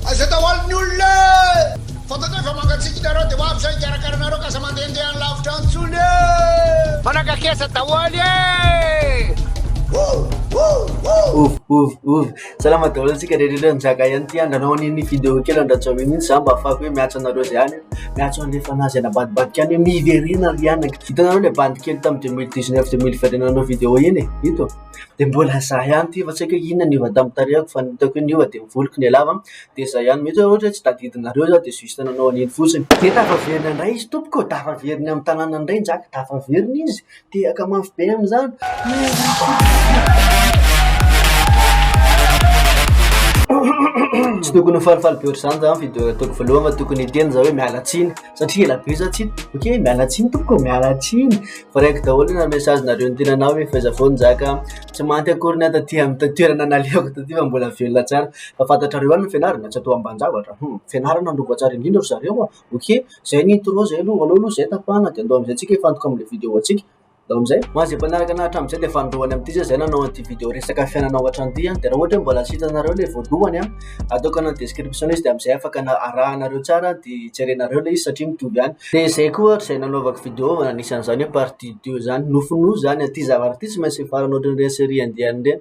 Aiza daholo ny olona e! Fantatrao fa mangatsiaka ianareo dia ho avy izay hikarakara anareo ka aza mandehandeha any lavitra any intsony e! Manakakesa daholo e! Ouvy ouvy ouvy salama daholo antsika rehetra rehetra nizaka ihany ity andra anao aniny video kely andra tsy amin za mba afako hoe miatso anareo zay any miatso anle fanazy anabadibadika any miverina ry anaka hitanareo le bandy kely tam deux mille dix neuf deux mille vingt et un anao video iny e ito dia mbola izaho ihany ity fa tsy haiko hoe inona niova tamin'ny tarehiko fa ny hitako hoe niova dia ny voloko no lava dia izay ihany mety hoe ohatra hoe tsy tadidinareo za dia juste nanao an'iny fotsiny dia tafaverina indray izy tompoko ô! tafaveriny amin'ny tanànany indray ny zaka, tafaveriny izy, tehaka mafy be amin'izany tsy tokony ho falifaly be ohatr'izany za fa i dia ataoko voalohany fa tokony hiteny za hoe miala tsiny satria ela be zah tsy hita ok miala tsiny tompoko ô miala tsiny fa reko daholo ny message nareo ny tenanao hoe f'aiza foana zah ka tsy mahantra akory ny ahy taty amin'ny toerana nalehako taty fa mbola velona tsara fa fantatrareo ihany ny fianarana tsy atao ambanin-javatra hum fianarana no voatsara indrindra ry zareo ô ok zay ny intro zay aloha aleo aloha zay tapahana de andao amizay tsika hifantoka amle video tsika Ndao amizay, ho an'izay mpanaraka anah hatramin'izay dia fanindroany amin'ity zah zay nanao an'ity vidéo resaka fiainana ao an-trano ity an, dia raha ohatra hoe mbola tsy hitanareo le voalohany an, ataoko any description izy dia amizay afaka na arahanareo tsara dia jerenareo le izy satria mitovy ihany, dia zay koa ohatra izay nanaovako vidéo fa anisan'izany hoe partie deux zany, nofinofy zany an, ity zavatra ity tsy maintsy hifarana ohatran'ireny série indienne ireny,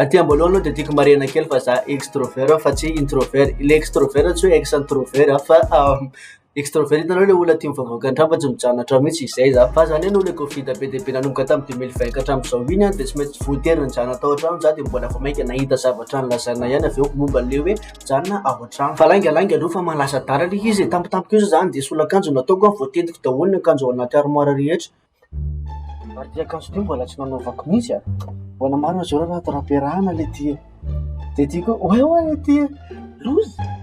Aty amboalohany aloha dia tiako marihina kely fa za extrovert fa tsy introvert. Ilay extrovert tsy hoe ex introvert an, fa extrovert hitanao ilay olona tia mivavaka an-trano fa tsy mijanona an-trano mihitsy, izay za. Fa za indray noho ilay covid be dia be nanomboka tamin'ny deux mille vingt ka hatramin'izao iny an, dia tsy maintsy voatery nijanona tao an-trano za dia mbola vao mainka nahita zavatra nilazaina ihany avy eo momba an'ilay hoe mijanona ao an-trano. Fa lainga lainga aloha fa mahalasa adala ilay izy e, tampotampoka eo zany dia soloakanjo no nataoko an, voatendiko daholo ny akanjo ao anaty armoire rehetra. Ary ty akanjo ty mbola tsy nanaovako mihitsy an! Mbola maro aza ireo raha tara-piarahana ilay ty e! Dia ty koa oay oay ilay ty e! Loza e!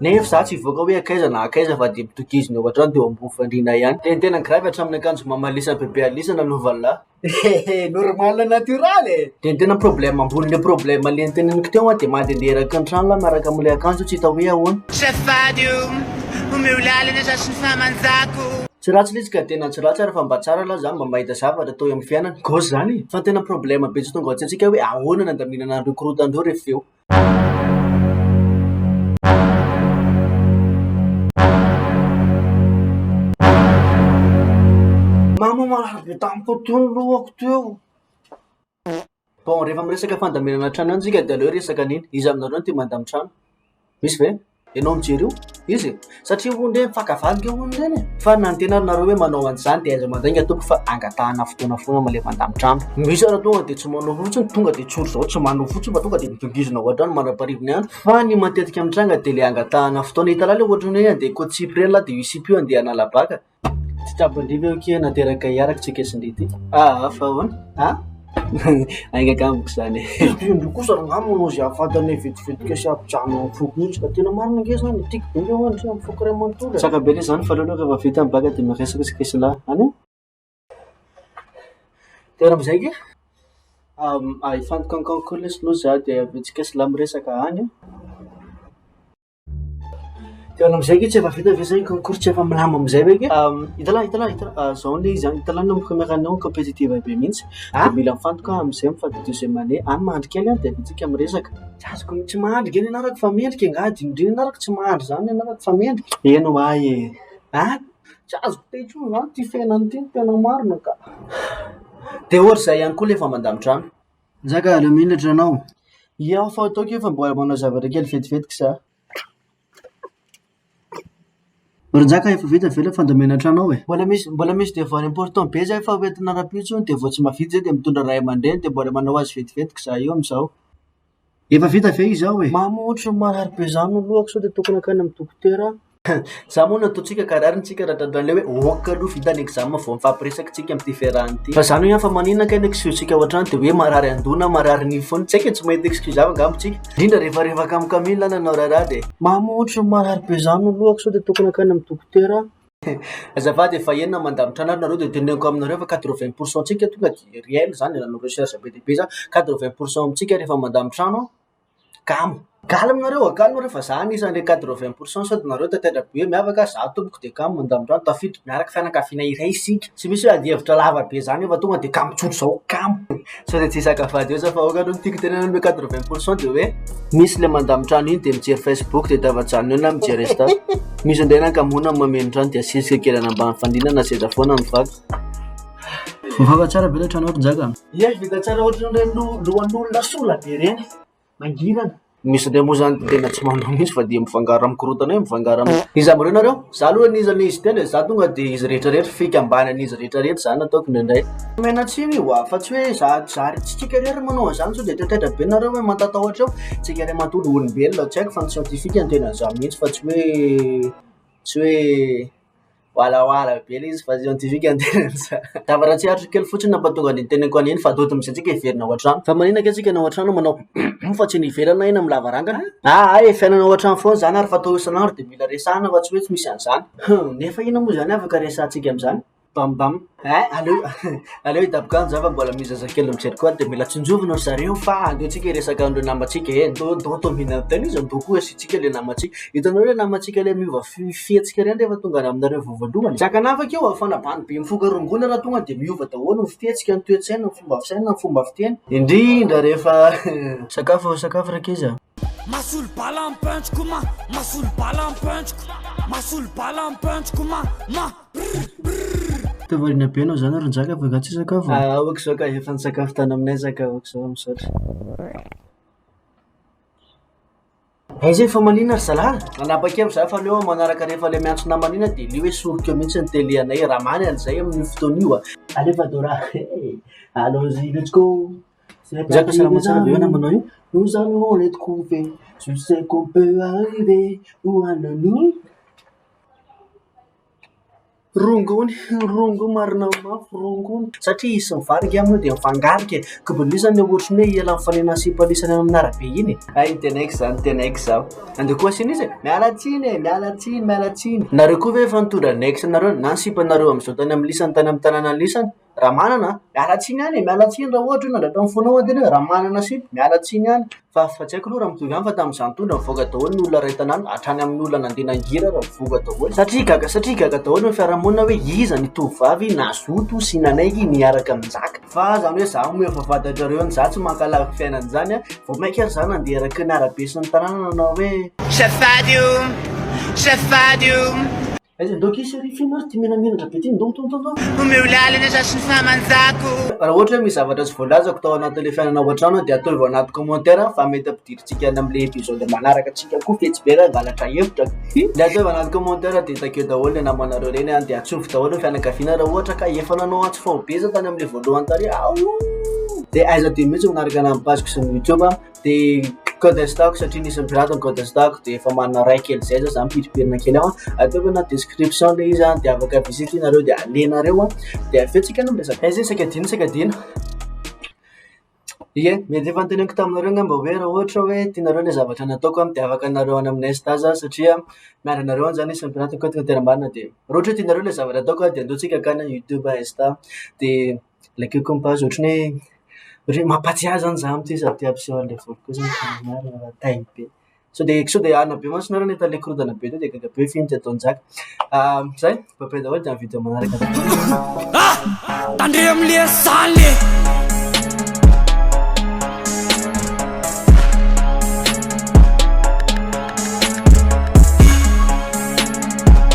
Nefa izaho tsy hivoaka hoe akaiza na akaiza fa dia mitokizina eo an-trano dia eo ambony fandriana ihany. Dia ny tena gravy hatramin'ny akanjo mamalisan'i Bebe Alisa nanaovan'lah. Hehe, normal natiorala e! Dia ny tena problème ambonin'le problème le noteneniko teo an, dia mandehandeha eraky ny trano lah miaraka amin'ilay akanjo tsy hita hoe ahoana. Safady o! Omeo lalana za sy ny fahamanjako o! Tsy ratsy le izy ka tena tsy ratsy ary fa mba tsara aloha zany mba mahita zavatra atao eo amin'ny fiainana. Gauche izany e! Fa ny tena problème be tsy tonga ao an-tsaintsika hoe ahoana ny handaminana an'ireo korontana ireo rehefa avy eo. Mama marary be tamiko tony lohako teo. Bon, rehefa miresaka fandaminana trano ihany tsika dia aleo resaka an'iny, iza aminareo no tia mandamy trano? Misy ve? Ianao mijery io? Iza e? Satria hono re mifankavala nge hono ireny e! Fa na ny tena ary nareo hoe manao an'izany dia aiza mandainga tompoko fa angatahana fotoana foana mba le mandamy trano. Misy ary tonga dia tsy manao fotsiny, tonga dia tsory izao tsy manao fotsiny fa tonga dia midongizina ao an-trano mandra-pahariva ny andro. Fa ny matetika mitranga dia le angatahana fotoana, hitanao le ohatran'ny hoe andeha hikontsipy ireny lahy dia io sipa io andeha hanala baka, Tsy tsabon-dry ve ity na dia ragaillard ary tsy ekezin-dry ity? Aa! fa ahoana? A! Ainga kay amiko izany e! Tsy tian-dry kosa angamba ianao izay hahavita anay vetivetika sy hampijanona amin'ny foko mihitsy ka! Tena marina ange izany e! Tiako be ny ao an-dry amin'ny foko iray manontolo e! Tsara be ilay izany fa aleo aloha rehefa vita ny bacc dia miresaka isika esonahy any an! Dia raha amin'izay ange hifantoka amin'ny concours lesy aloha izaho dia avy eo isika esonahy miresaka any an! Teo amin'izay ange tsy efa vita ve zay concours tsy efa milamina amin'izay ve ange? Hitalahy, hitalahy, hitalahy, zao anie izy any, hitalahy ny première année ao compétitive be mihitsy, dia mila mifantoka aho amin'izay mifa dia deuxième année, any mandry kely aho dia aviantsika miresaka. Tsy azoko ny tsy mahandry ange ny anarako fa mendrika e, angaha adinondry ny anarako, tsy mahandry izany ny anarako fa mendrika. Eny ho ahy e! An! Tsy azoko te intsony izany ity fiainana ity, ny tena marina ka! Dia ohatra izay ihany koa ilay vamandan-drano, Njaka aleo milatra ianao. Ia hoy fa ataoko io fa mbola manao zavatra kely vetivety k'za. Ry Njaka efa vita ve ilay fandamina tranao e? Mbola misy mbola misy devoir important be zay fa ho entina rahampitso iny de vao tsy mahavita zay de mitondra ray aman-dreny de mbola manao azy vetivety k'za io am'zao. Efa vita ve izao e? Mamo ohatry ny marary be zany ny lohako sao dia tokony hankany amin'ny dokotera aho. Za moa nataontsika ka rariny-tsika ra-dRadomelina hoe ok aloha vita ny examen vao mifampiresaka tsika amin'ity fiarahana ity. Fa zany hoe an fa manina kay ny excuse-tsika ao an-trano dia hoe marary an-doha na marary nify foana. Tsy haiko e, tsy mahita excuse hafa angamba tsika. Indrindra rehefa rehefa kamo-kamila aho nanao raharaha dia. Mamo ohatry ny marary be zany ny lohako sao dia tokony hankany amin'ny dokotera aho. Azafady efa enina mandamina trandrana nareo de teneniko aminareo fa quatre vingt pour cent tsika tonga de réel zany nanao recherche be dia be za quatre vingt pour cent amintsika refa mandamy trano an kamo. Calme nareo a calme nareo fa za anisan'ny le quatre vingt pour cent sao de nareo tantera be miavaka za tompoko de kamo mandamy trano tafiditra miaraka fianakaviana iray isika tsy misy hoe ady hevitra lava be zany io fa tonga de kamo tsotra zao kamo. Sao dia tsy hisaka vady eo za fa aoka aloha ny tiako tenenana hoe quatre vingt pour cent dia hoe misy le mandamy trano iny dia mijery facebook dia tava-janona eo na mijery insta misy andeha nankamona ny mameno trano dia asisika kely any ambany fandriana na seza foana ny vaky Voafaka tsara ve ilay trano ato Njaka? Ie vita tsara ohatran'ireny lo- lohan'olona sola be ireny. mangirana. Misy an'ireo moa izany tena tsy manao mihitsy fa dia mifangaro amin'ny korontana eo, mifangaro amin'ny. Iza amin'ireo nareo? Izaho aloha ny iza ny izy telo e, izaho tonga dia izy rehetra rehetra, fikambanan'izy rehetra rehetra izany no ataoko indraindray. Menatsiny io a, fa tsy hoe za zary tsika irery no manao an'izany, sao dia taitaitra be nareo hoe mahatatahotra eo, tsika irery matoa olombelona, tsy haiko fa ny siantifika no tena an'izany mihitsy fa tsy hoe tsy hoe. Walawala be le izy fa scientifique ny tenany sa. Tava raha tsiaritra kely fotsiny nampatonga an'iny teneniko an'iny fa atody mihitsy antsika hiverina ao an-trano. Fa manina kay tsika ny ao an-trano manao humm fa tsy ny ivelany na eny amin'ny lavarangana. Ah ay e, fiainana ao an-trano foana zany ary fa atao isan'andro de mila resahana fa tsy hoe tsy misy an'izany. Humm, nefa inona moa zany afaka resahantsika amin'izany? Bam bam. Ay, aleo aleo hidaboka any za fa mbola misy zazakely mijery koa de mila tsinjovina ry zareo fa aleontsika hiresaka an'ireo namantsika e, ndao ndao atao mihinana tena izy ndao koa asiantsika le namantsika, hitanao le namantsika le miova fi- fihetsika ireny rehefa tonga any aminareo vao voalohany e, tsy ankanavaka io afana bando be mifoka rongony raha tonga de miova daholo ny fihetsika, ny toe-tsaina, ny fomba fisaina, ny fomba fiteny, indrindra rehefa Sakafo ô, sakafo ry ankizy a! Masolo bala amin'ny punch-ko ma Masolo bala amin'ny punch-ko Masolo bala amin'ny punch-ko ma ma. Te variana be enao zany ry njaka fa nga tsy hisakafo e? Ah ok zao ka efa nisakafo tany aminay za ka ok zao misaotra. Aiza iny famaliana ry zalahy? Nanapa-kevitra za fa aleo aho manaraka rehefa le miantso namana iny aho de le hoe soriko eo mihitsy ny tele anay e, raha maly an'izay amin'io fotoana io a. Aleo fa dora eh! Allons y let's go! C'est parti mes amis, nous allons les trouver, tu sais qu'on peut arriver où à nous. Rongony, rongony marina mafy rongony satria izy sy ny vary angamba moa dia mifangarika e! koa be loza ny ohatra ny hoe ihalan'ny mifanena sy ipolisana eny amin'ny arabe eny e! hay ny tena aiko izany ny tena aiko izao andeha koa asiana izy e! miala tsiny e! miala tsiny miala tsiny nareo koa ve efa nitondra ny aix nareo na ny sipanareo amin'izao tany amin'ny lisany tany amin'ny tanàna lisany Ramanana an! miala tsiny any e, miala tsiny raha ohatra hoe nandray tamin'ny foanao an-tena hoe Ramanana sy miala tsiny any fa fa tsy haiko aloha raha mitovy ihany fa tamin'izaho nitondra nivoaka daholo ny olona iray tanàna hatrany amin'ny olona nandeha nangira ary nivoaka daholo satria gaga satria gaga daholo ny fiarahamonina hoe iza ny tovovavy nazoto sy nanaiky niaraka nizaka fa zany hoe izaho omeo vavahadin-dry zareo any izaho tsy mankalaza ny fiainana izany an, vao mainka ary izaho nandeha araka ny arabe sy ny tanàna nanao hoe. Aiza ndao ki chérie f'ino ary ty menamenatra be ty ndao ndao ndao ndao. Omeo lalana za sy ny fahamanjako. Raha ohatra hoe misy zavatra tsy voalazako tao anatin'ilay fiainana ao an-trano dia atoivo anaty commentaire fa mety ampidirintsika any amin'ilay episode manaraka antsika koa fetsy be raha hangalatra hevitra ka. Ilay atoivo anaty commentaire dia takeo daholo ilay namanareo ireny an, dia atsofoka daholo ny fianakaviana raha ohatra ka efa nanao antso faobe iza tany amin'ilay voalohany tary aho. Dia aiza ty mihitsy ny manaraka ny any page-ko sy ny youtube an. de code insta ko satria nisy pirate ny code insta ko de efa manana ray kely zay zao za mipirimpirina kely ao a ataoko anaty description le izy a de afaka visite anareo de alenareo a de avy eo tsika no miresaka aiza isaka adino isaka adino ye mety efa noteneniko taminareo ngamba hoe raha ohatra hoe tianareo le zavatra nataoko a de afaka anareo any amin'ny insta za satria miaro anareo any zany isan'ny pirate ko tena marina de raha ohatra hoe tianareo le zavatra ataoko a de andao tsika akany youtube insta de ilay cucumbers ohatran'ny hoe hoe mampahatsiahy izany izaho amin'ity sady te hampiseho an'ilay volo kosa ny fananahana raha tay be. Sao dia sao dia hanina be mantsy nareo nahita an'ilay korontana be teo dia gaga be f'iny tsy ataon-jaka. Izay, bye bye daholo dia amin'ny video manaraka. Ah! Tandremo amin'ilay asany e!